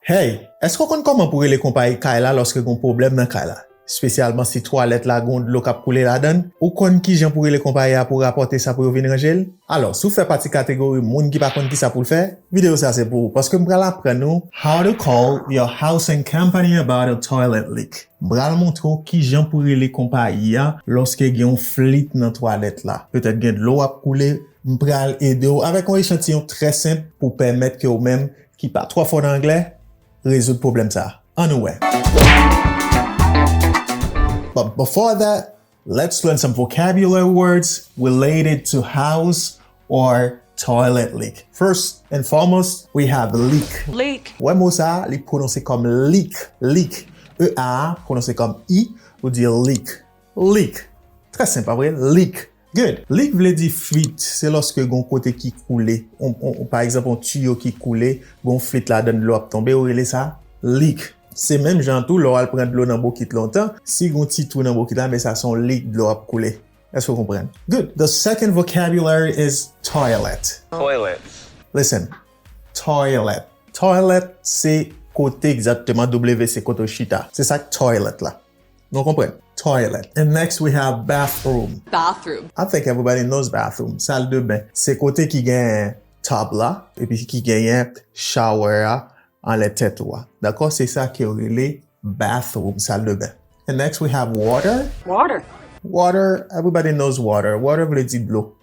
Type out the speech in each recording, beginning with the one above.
Hey! Èske w konn kòman pou rele konpayi kay la lòske gon pwoblèm nan kay la? Spesyalman si twalèt la gon dlo kap koule ladann? Ou konn kijan pou rele konpayi a pou rapòte sa pou yo vin ranje l? Alò, si w fè pati kategori moun ki pa konn kisa pou l fè, videyo sa se pou ou paske m pral aprann ou How to call your housing company about a toilet leak M pral montre w kijan pou rele konpayi a lòske gen yon flit nan twalèt la. Petèt gen dlo ap koule. M pral ede w avèk yon echantiyon trè senp pou pèmèt ke ou menm Ki pa twò fò nan anglè, rezoud pwoblèm sa. An nou wè. But before that, let's learn some vocabulary words related to house or toilet leak. First and foremost, we have leak. Leak. Wè mo sa, li pwononse kòm lik, leak. E a a pwononse kòm i, ou di leak. Leak. Trè senp, pa vre? Leak. Good! Leak vle di flit, se lòske gon kote ki koule, pa egzanp yon tiyo ki koule, gon flit ladann dlo ap tonbe, yo rele sa leak. Se menm jan an tou lè w al pran dlo nan bokit lontan, si gon ti twou nan bokit la, ben sa se yon leak dlo ap koule. Èske w konprann? Good! The second vocabulary is toilet. Toilet. Listen, Toilet. Toilet se kote egzakteman, W se kote w chita. Se sa k toilet la. Nou konprann? Toilet. And next we have bathroom. Bathroom. I think everybody knows bathroom. Sal de ben. Se kote ki gen tub la epi ki genyen shower a anlè tèt ou a. Dakò? Se sa ke yo rele bathroom, sal de ben. And next we have water. Water. Water. Everybody knows water. Water vle di dlo.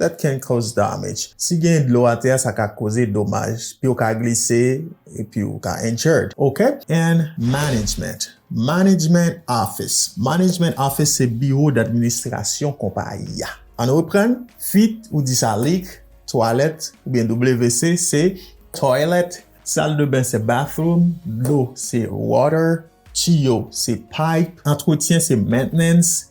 That can cause damage, si gen dlo atè a sa ka koze domaj, yo ka glise epi ou ka injured ok. And management, management office, management office se biwo d'administrasyon konpayi a. Ann reprann, fuit ou di sa leak, twalèt oubyen WC se toilet, sal de ben se bathroom, dlo se water, tiyo se pipe, antretyen se maintenance,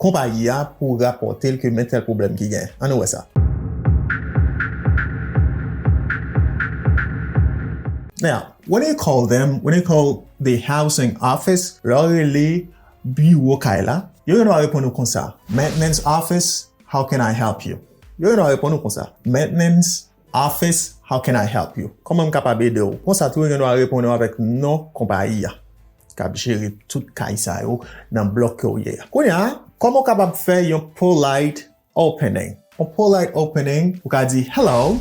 konpayi a pou rapòte l ke men tèl pwoblèm ki gen. An nou wè sa. Now, when they call them, when they call the housing office, lè w rele biwo kay la, yo gen dwa reponn ou konsa, Maintenance office, how can I help you? Yo gen dwa reponn ou konsa, Maintenance Office, How can I help you? Kòman m kapab ede w? Konsa tou yo gen dwa reponn ou avèk non konpayi a k ap jere tout kay sa yo nan blòk ke w ye a. Kounye a, kòman w kapab fè yon polite opening? Yon polite opening, ou ka di, Hello,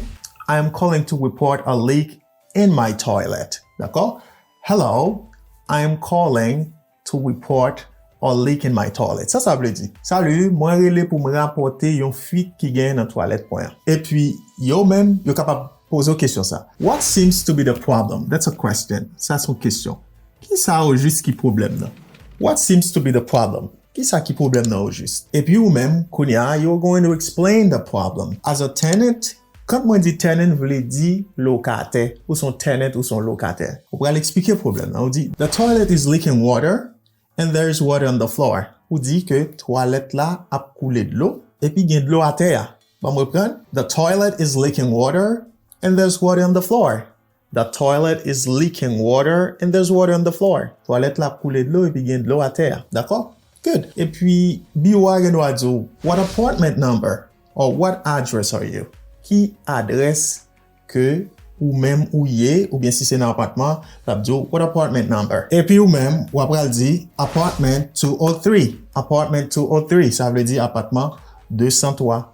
I am calling to report a leak in my toilet. Dakò? Hello, I am calling To report a leak in my toilet, sa sa vle di? Salut, mwen rele pou m rapòte yon fuit ki genyen nan twalèt mwen an. Epi, yo menm, yo kapab poze w kesyon sa. What seems to be the problem? That's a question. Sa se yon kesyon. Ki sa ojis ki pwoblèm nan? What seems to be the problem? Ki sa ki pwoblèm nan ojis? Epi ou menm, kounye a, you're going to explain the problem. As a tenant, Kant mwen di tenant vle di lokatè. Ou son tenant ou son lokatè. Ou pral eksplike pwoblèm lan. Ou di. The toilet is leaking water and there is water on the floor. Ou di ke twalèt la ap koule dlo epi gen dlo atè a. Banm reprann. The toilet is leaking water and there is water on the floor. The toilet is leaking water and there's water on the floor. Twalèt la ap koule dlo epi gen dlo atè a. Dakò? Good. Epi, biwo a gen dwa di w, What apartment number? Or what address are you? Ki adrès ke ou menm ou ye? Oubyen si se nan apatman, l ap di w, What apartment number? Epi ou menm, w apral di, Apartment 203. Apartment 203, sa vle di apatman 203.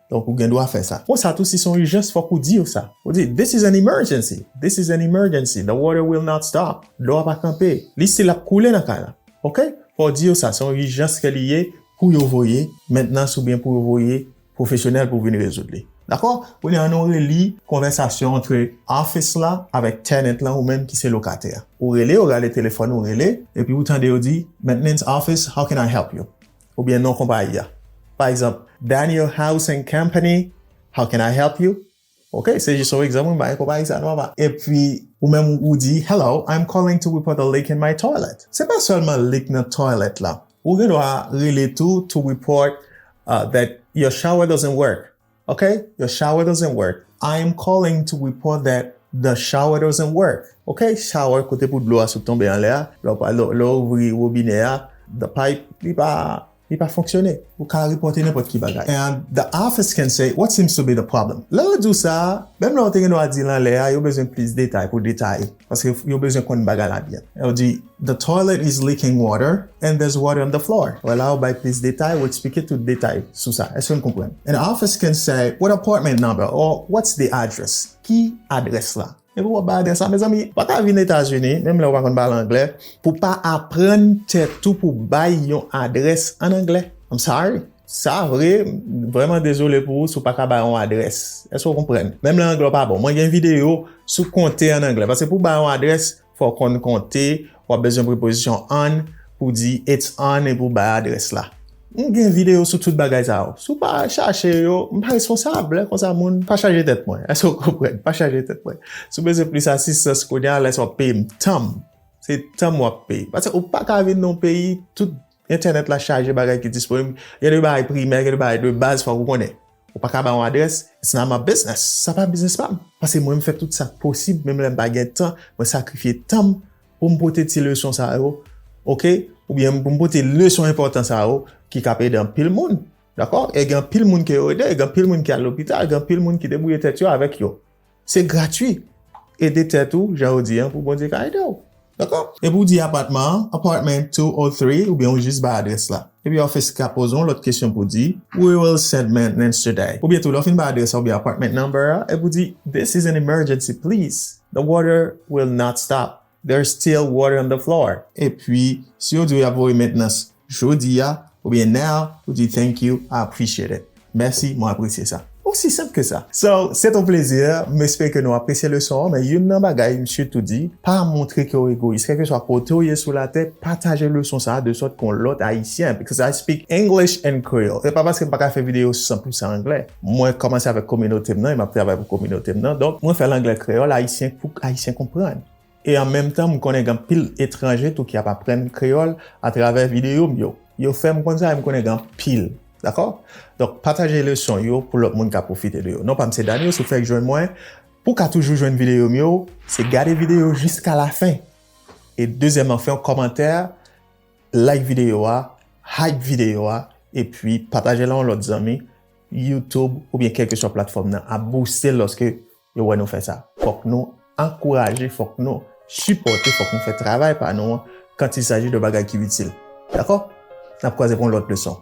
Donk ou gen dwa fè sa. Konsa tou si se yon ijans fòk ou di yo sa. Ou di, This is an emergency! This is an emergency! The water will not stop! Dlo a pa kanpe. Li stil ap koule nan kay la. Ok? Fò w di yo sa. Se yon ijans ke li ye pou yo voye mentnans oubyen pou yo voye pwofesyonèl pou vin rezoud li. Dakò? Kounye a an nou reli konvèsasyon antre office la avèk tenant lan ou menm ki se lokatè a. Ou rele, ou gade telefòn ou rele, epi ou tande yo di, Mentnans office, how can I help you? oubyen non konpayi a. Pa egzanp, Daniel House and Company, how can I help you? Ok, se jis yon egzanp mwen bay, konpayi sa nòmal. Epi, ou menm ou di, Hello, I'm calling to report a leak in my toilet. Se pa sèlman leak nan toilet la. Ou gen dwa rele tou to report that your shower doesn't work. Ok your shower doesn't work I am calling to report that the shower doesn't work Ok shower kote pou dlo a sot tonbe anlè a lè ou ouvri wobinè a the pipe li pa fonksyone ou ka repòte nenpòt ki bagay and the office can say what seems to be the problem lè yo di w sa menm lè ou te gen dwa di l anlè a yo bezwen plis detay pou detaye. Paske yo bezwen konn bagay la byen. Ou di, The toilet is leaking water and there's water on the floor. Wè la ou bay plis detay, ou eksplike tout detay sou sa. Èske n konprann? An office can say, What apartment number? Or, What's the address? Ki adrès la? Epi w ap bay adrès la. Mezanmi, ou pa ka vin Etazini, menm lè ou pa konn pale anglè, pou w pa aprann tèt ou pou w bay yon adrès an anglè. I'm sorry. Sa vre, m vrèman dezole pou ou si w pa ka bay yon adrès. Èske w konprann? Menm lè anglè w pa bon. Mwen gen videyo sou konte an anglè. Paske pou w bay yon adrès, fò w konn konte, w ap bezwen prepozisyon on pou w di it's on epi w bay adrès la. M gen videyo sou tout bagay sa yo. Si w pa chache yo, m pa responsab. Lè konsa moun, pa chaje tèt mwen. Èske w konprann? Pa chaje tèt mwen. Si w bezwen plis asistans kounye a, lè sa w ap peye m tan m. Se tan m w ap peye. Paske ou pa ka vin nan yon peyi, tout Entènèt la chaje bagay ki disponib, gen de bagay primè, gen de bagay de baz fòk ou konnen. Ou pa ka ba yon adrès, it's not my business, sa pa biznis pa m. Paske mwen m fè tout sa k posib, menm lè m pa gen tan, mwen sakrifye tan m pou m pote ti leson sa yo ok, oubyen pou m pote leson enpòtan sa yo ki k ap ede anpil moun dakò, e gen anpil moun ke yo ede, gen anpil moun ki al lopital, gen anpil moun ki debwouye tèt yo avèk yo. Se gratwi. Ede tèt ou jan ou di an pou Bondye ka ede w. Dakò? Epi w di apatman an, apartment 2 or 3 oubyen ou jis bay adrès la. Epi office ka poze w lòt kesyon pou di, We will send maintenance today. Oubyen tou lè w fin bay adrès la oubyen apartment number a, epi w di, This is an emergency please. The water will not stop. There's still water on the floor. Epi, si yo di w y ap voye mentnans jodi a, oubyen now, ou di Thank you, I appreciate it. Mèsi, mwen apresye sa. Osi senp ke sa. So, se t on plezi. M espere ke nou apresye leson an. Men youn nan bagay m sitou di, pa montre ke w egoyis. Kèlkeswa kote w ye sou latè, pataje leson sa a de sòt ke yon lòt Ayisyen, because I speak English and Creole. Se pa paske m pa ka fè videyo 100 pousan anglè. Mwen kòmanse avèk kominote m nan e m ap travay pou kominote m nan. Donk, mwen fè l anglè kreyòl ayisyen pou ayisyen konprann. E an menm tan, m konnen gen anpil etranje tou ki ap aprann kreyòl atravè videyo m yo. Yo fè m konn sa e m konnen gen anpil. Dakò? Donk, pataje leson yo pou lòt moun ka pwofite de yo. Non pa m se Daniel, si w fèk jwenn mwen, pou w ka toujou jwenn videyo m yo, se gade videyo jiskalafen. E dezyèman, fè yon kòmantè Like video a, hype video a, epi pataje l a yon lòt zanmi, YouTube oubyen kelkeswa platfòm nan ap bouste l lòske yo wè nou fè sa. Fòk nou ankouraje, fòk nou sipòte, fòk nou fè travay pa nou an kant il saji de bagay ki itil. Dakò? N ap kwaze pou yon lòt leson.